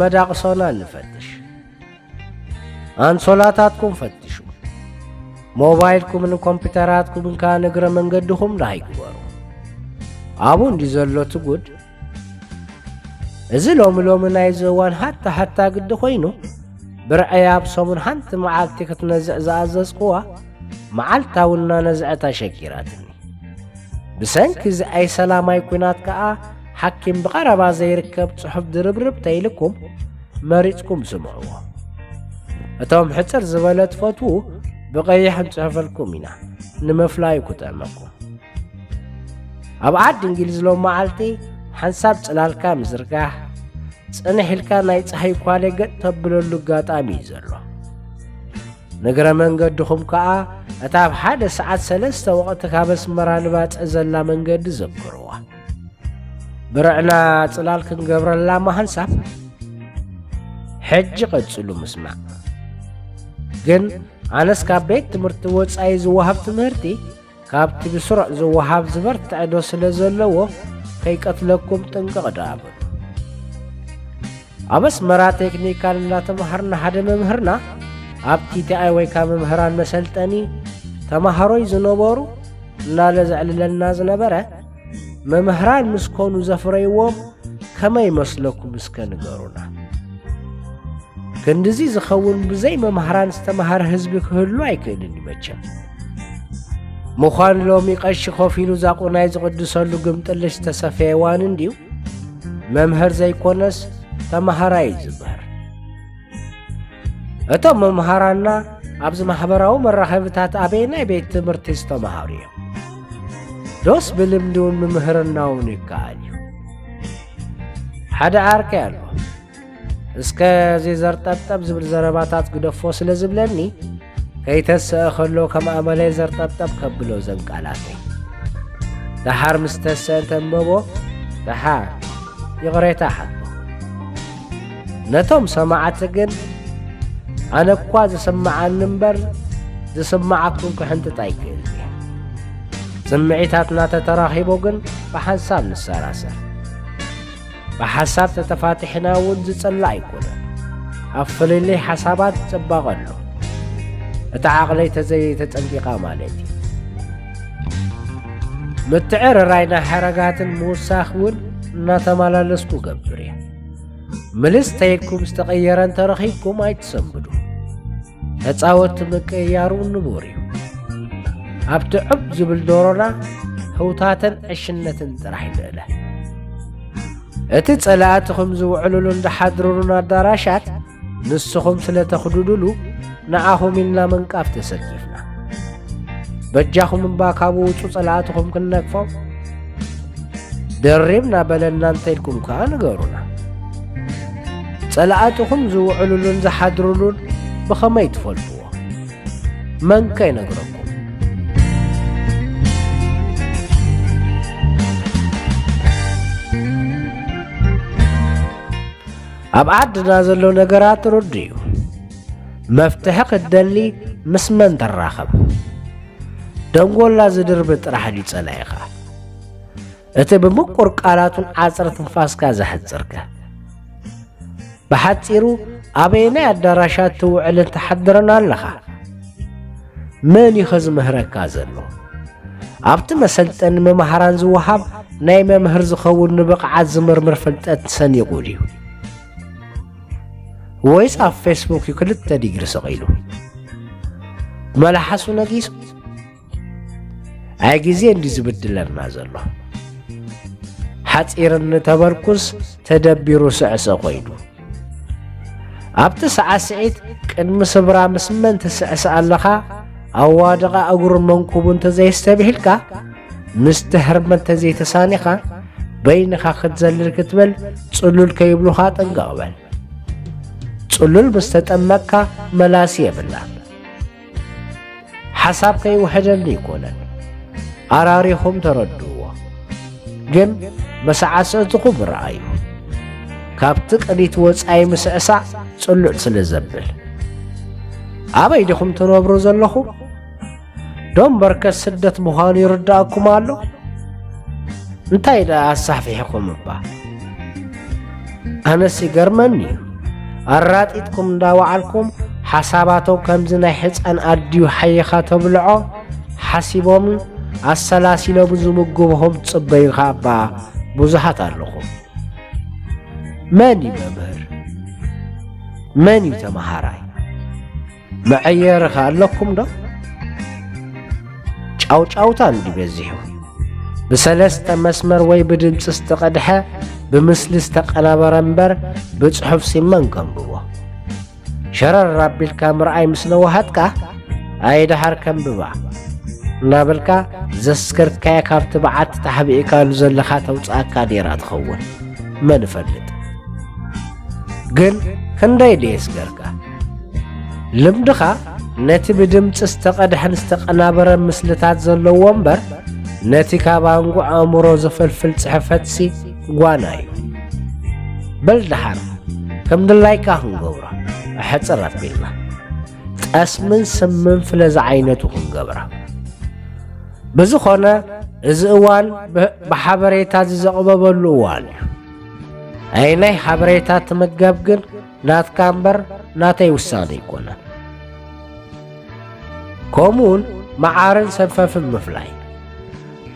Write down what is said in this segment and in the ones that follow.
መዳቕሶና ንፈትሽ። ኣንሶላታትኩም ፈትሹ። ሞባይልኩምን ኮምፒተራትኩምን ከኣ ንእግረ መንገድኹም ደሃይ ግበሩ። ኣብኡ እንዲ ዘሎ እቲ ጉድ እዚ ሎሚ ሎሚ ናይዚ እዋን ሃታ ሃታ ግዲ ኮይኑ ብርዐይ ኣብ ሰሙን ሓንቲ መዓልቲ ክትነዝዕ ዝኣዘዝኩዋ መዓልታዊ እናነዝዐት ኣሸጊራትኒ ብሰንኪ እዚ ኣይሰላማይ ኩናት ከኣ ሓኪም ብቐረባ ዘይርከብ ጽሑፍ ድርብርብ ተይልኩም መሪጽኩም ስምዕዎ እቶም ሕፅር ዝበለ ትፈትዉ ብቐይሕ ንጽሕፈልኩም ኢና ንምፍላዩ ክጥዕመኩም ኣብ ዓዲ እንግሊዝ ሎም መዓልቲ ሓንሳብ ጽላልካ ምዝርጋሕ ጽንሕ ኢልካ ናይ ፀሓይ ኳለ ገጥ ተብለሉ ኣጋጣሚ እዩ ዘሎ ንግረ መንገድኹም ከዓ እታ ኣብ ሓደ ሰዓት ሰለስተ ወቕቲ ካብ ኣስመራ ንባፅዕ ዘላ መንገዲ ዘክርዋ ብርዕና ጽላል ክንገብረላ ምሃንሳብ ሕጂ ቀጽሉ ምስማዕ ግን ኣነስ ካብ ቤት ትምህርቲ ወጻኢ ዝወሃብ ትምህርቲ ካብቲ ብስሩዕ ዝወሃብ ዝበርትዐ ዶ ስለ ዘለዎ ከይቀትለኩም ጥንቅቕ ዶ ኣብ ኣስመራ ቴክኒካል እንዳተማሃርና ሓደ መምህርና ኣብ ቲቲኣይ ወይ ካብ መምህራን መሰልጠኒ ተማሃሮይ ዝነበሩ እናለ ዘዕልለና ዝነበረ መምህራን ምስ ኮኑ ዘፍረይዎም ከመይ መስለኩም እስከ ንገሩና ክንድዚ ዝኸውን ብዘይ መምህራን ዝተማሃረ ህዝቢ ክህሉ ኣይክእልን እዩ መቸም ምዃን ሎሚ ቀሺ ኮፍ ኢሉ ዛቑናይ ዝቕድሰሉ ግምጥልሽ ዝተሰፈየ ዋን እንድዩ መምህር ዘይኮነስ ተመሃራይ እዩ ዝበህር እቶም መምሃራና ኣብዚ ማሕበራዊ መራኸብታት ኣበየናይ ቤት ትምህርቲ ዝተምሃሩ እዮም ዶስ ብልምዲ እውን ምምህርናውን ይከኣል እዩ ሓደ ዓርከይ ኣሎ እስከ ዘይዘርጠብጠብ ዝብል ዘረባታት ግደፎ ስለ ዝብለኒ ከይተሰአ ከሎ ከም ኣመለይ ዘርጠብጠብ ከብሎ ዘንቃላተይ ደሓር ምስ ተሰአ እንተንበቦ ደሓር ይቕሬታ ሓቶ ነቶም ሰማዕቲ ግን ኣነ እኳ ዝስምዓኒ እምበር ዝስምዓኩም ክሕንጥጥ ኣይክእል እየ ስምዒታትና ተተራኺቦ ግን ብሓንሳብ ንሰራሰር ብሓሳብ ተተፋቲሕና እውን ዝጸላእ ኣይኮነን። ኣብ ፍልልይ ሓሳባት ጽባቐ ኣሎ። እቲ ዓቕለይ ተዘይተጸንቂቓ ማለት እዩ። ምትዕርራይና ሓረጋትን ምውሳኽ እውን እናተመላለስኩ ገብር እየ። ምልስ ተይልኩም ዝተቐየረ እንተረኺብኩም ኣይትሰንብዱ። ተጻወቲ ምቅይያሩ ንቡር እዩ። ኣብቲ ዑብ ዝብል ዶሮና ህውታትን ዕሽነትን ጥራሕ ንእለ። እቲ ጸላእትኹም ዝውዕሉሉን ዝሓድሩሉን ኣዳራሻት ንስኹም ስለ ተኽዱዱሉ ንኣኹም ኢልና ምንቃፍ ተሰኪፍና በጃኹም እባ ካብ ውጹ ጸላእትኹም ክንነቅፎም ደሪብና በለና እንተኢልኩም ከኣ ንገሩና ጸላእትኹም ዝውዕሉሉን ዝሓድሩሉን ብኸመይ ትፈልጡ መንከ ይነግረኩም ኣብ ዓድና ዘሎ ነገራት ርዱ እዩ መፍትሒ ክትደሊ ምስ መን ተራኸብ ደንጎላ ዝድርቢ ጥራሕ ድዩ ጸላኢኻ እቲ ብምቁር ቃላቱን ዓጽር ትንፋስካ ዘሕጽርከ ብሓጺሩ ኣበየናይ ኣዳራሻት ትውዕልን ትሓድርን ኣለኻ? መን እዩ ከዝምህረካ ዘሎ? ኣብቲ መሰልጠኒ መማህራን ዝወሃብ ናይ መምህር ዝኸውን ንብቕዓት ዝምርምር ፍልጠት ሰኒቑ ድዩ ወይስ ኣብ ፌስቡክ እዩ ክልተ ዲግሪ ሰቒሉ መላሓሱ ነጊሱ ኣይ ግዜ እንዲ ዝብድለና ዘሎ ሓፂር እንተበርኩስ ተደቢሩ ስዕሰ ኮይኑ ኣብቲ ሰዓስዒት ቅድሚ ስብራ ምስ መን ትስዕስዕ ኣለኻ ኣዋድቓ እግሩን መንኩቡ እንተዘይስተብሂልካ ምስቲ ህርመ እንተዘይተሳኒኻ በይንኻ ክትዘልል ክትብል ጽሉል ከይብሉኻ ጥንቀቕ በል ጽሉል ምስ ተጠመቅካ መላሲ የብላ ሓሳብ ከይውሕደሉ ይኮነን ኣራሪኹም ተረድዎ ግን መሰዓሰዕትኹም ረኣዩ ካብቲ ቅኒት ወፃኢ ምስዕሳዕ ጽሉዕ ስለ ዘብል ኣበይ ዲኹም ትነብሩ ዘለኹም ዶም በርከት ስደት ምዃኑ ይርዳእኩም ኣሎ እንታይ ደኣ ኣሳሕፊሕኹም እባ ኣነስ ይገርመኒ እዩ ኣራጢጥኩም እንዳወዓልኩም ሓሳባቶም ከምዚ ናይ ሕፃን ኣድዩ ሓይኻ ተብልዖ ሓሲቦምን ኣሰላሲሎምን ዝምግብኹም ትጽበዩ ኸ እባ ብዙሃት ኣለኹም መን እዩ መምህር መን እዩ ተመሃራይ መዐየሪ ከ ኣለኩም ዶ? ጫውጫውታ እንዲ በዚሑ ብሰለስተ መስመር ወይ ብድምፂ ዝተቐድሐ ብምስሊ ዝተቀናበረ እምበር ብጽሑፍ ሲመን ከንብቦ ሸረር ኣቢልካ ምርኣይ ምስ ነዋሃትካ ኣይደሓር ከንብባ እናበልካ ዘስከርካየ ካብቲ በዓቲ ተሓቢእካሉ ዘለኻ ተውፅኣካ ኔራ ትኸውን መን እፈልጥ ግን ክንደይ ደየስገርካ ልምድኻ ነቲ ብድምጺ ዝተቐድሐን ዝተቐናበረ ምስልታት ዘለዎ እምበር ነቲ ካብ ኣንጎ ኣእምሮ ዝፈልፍል ጽሕፈትሲ ጓና እዩ በል ደሓር ከም ድላይካ ክንገብሮ ኣሕፅር ኣቢልና ጠስምን ስምን ፍለ ዝዓይነቱ ክንገብራ ብዝኾነ እዚ እዋን ብሓበሬታ ዝዘቕበበሉ እዋን እዩ ኣይ ናይ ሓበሬታ ትምገብ ግን ናትካ እምበር ናተይ ውሳነ ኣይኮነን። ከምኡውን መዓርን ሰንፈፍን ምፍላይ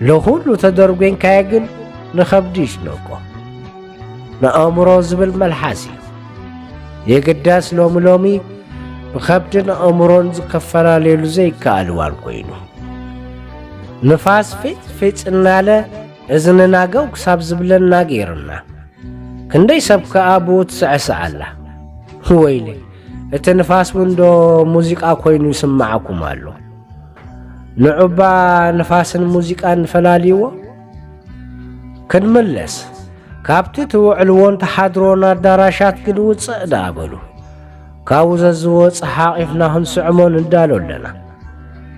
ንኹሉ ተደርጎንካዮ ግን ንኸብዲ ይጭነቆ ንኣእምሮ ዝብል መልሓስ እዩ። የግዳስ ሎሚ ሎሚ ብኸብድን ኣእምሮን ዝከፈላለሉ ዘይከኣል እዋን ኮይኑ ንፋስ ፊጥ ፊጥ እናለ እዝንና ገው ክሳብ ዝብለና ገይርና ክንደይ ሰብ ከኣ ብኡ ትስዕስዕ ኣላ። ወይለይ እቲ ንፋስ እውን ዶ ሙዚቃ ኮይኑ ይስምዓኩም ኣሎ። ንዑባ ንፋስን ሙዚቃን ፈላልይዎ። ክንምለስ ካብቲ ትውዕልዎን ተሓድሮን ኣዳራሻት ግን ውፅእ ደኣ በሉ። ካብኡ ዘዝወፅ ሓቒፍና ክንስዕሞ ንዳሎ ኣለና።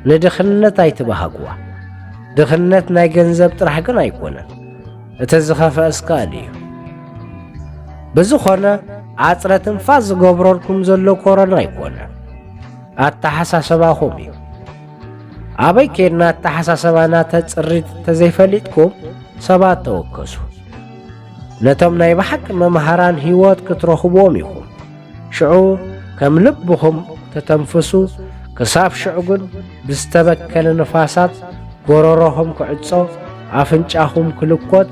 ንድኽነት ኣይትባሃግዋ። ድኽነት ናይ ገንዘብ ጥራሕ ግን ኣይኮነን። እቲ ዝኸፈእስ ቃል እዩ። ብዝኾነ ዓጽረ ትንፋስ ዝገብረልኩም ዘሎ ኮረና ኣይኮነ ኣተሓሳሰባኹም እዩ። ኣበይ ኬድና ኣተሓሳሰባና ተጽሪት ተዘይፈሊጥኩም ሰባት ተወከሱ። ነቶም ናይ ብሓቂ መምሃራን ህይወት ክትረኽብዎም ኢኹም። ሽዑ ከም ልብኹም ተተንፍሱ፣ ክሳብ ሽዑ ግን ብዝተበከለ ንፋሳት ጎረሮኹም ክዕጾ፣ ኣፍንጫኹም ክልኮት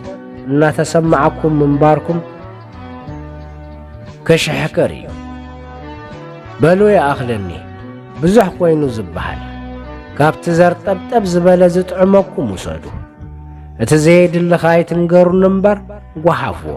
እናተሰማዓኩም ምንባርኩም ክሽሕክር እዩ። በሉ ይኣኽለኒ ብዙሕ ኮይኑ ዝበሃል ካብቲ ዘርጠብጠብ ዝበለ ዝጥዕመኩም ውሰዱ። እቲ ዘየድሊ ከይትንገሩኒ እምበር ጓሓፍዎ።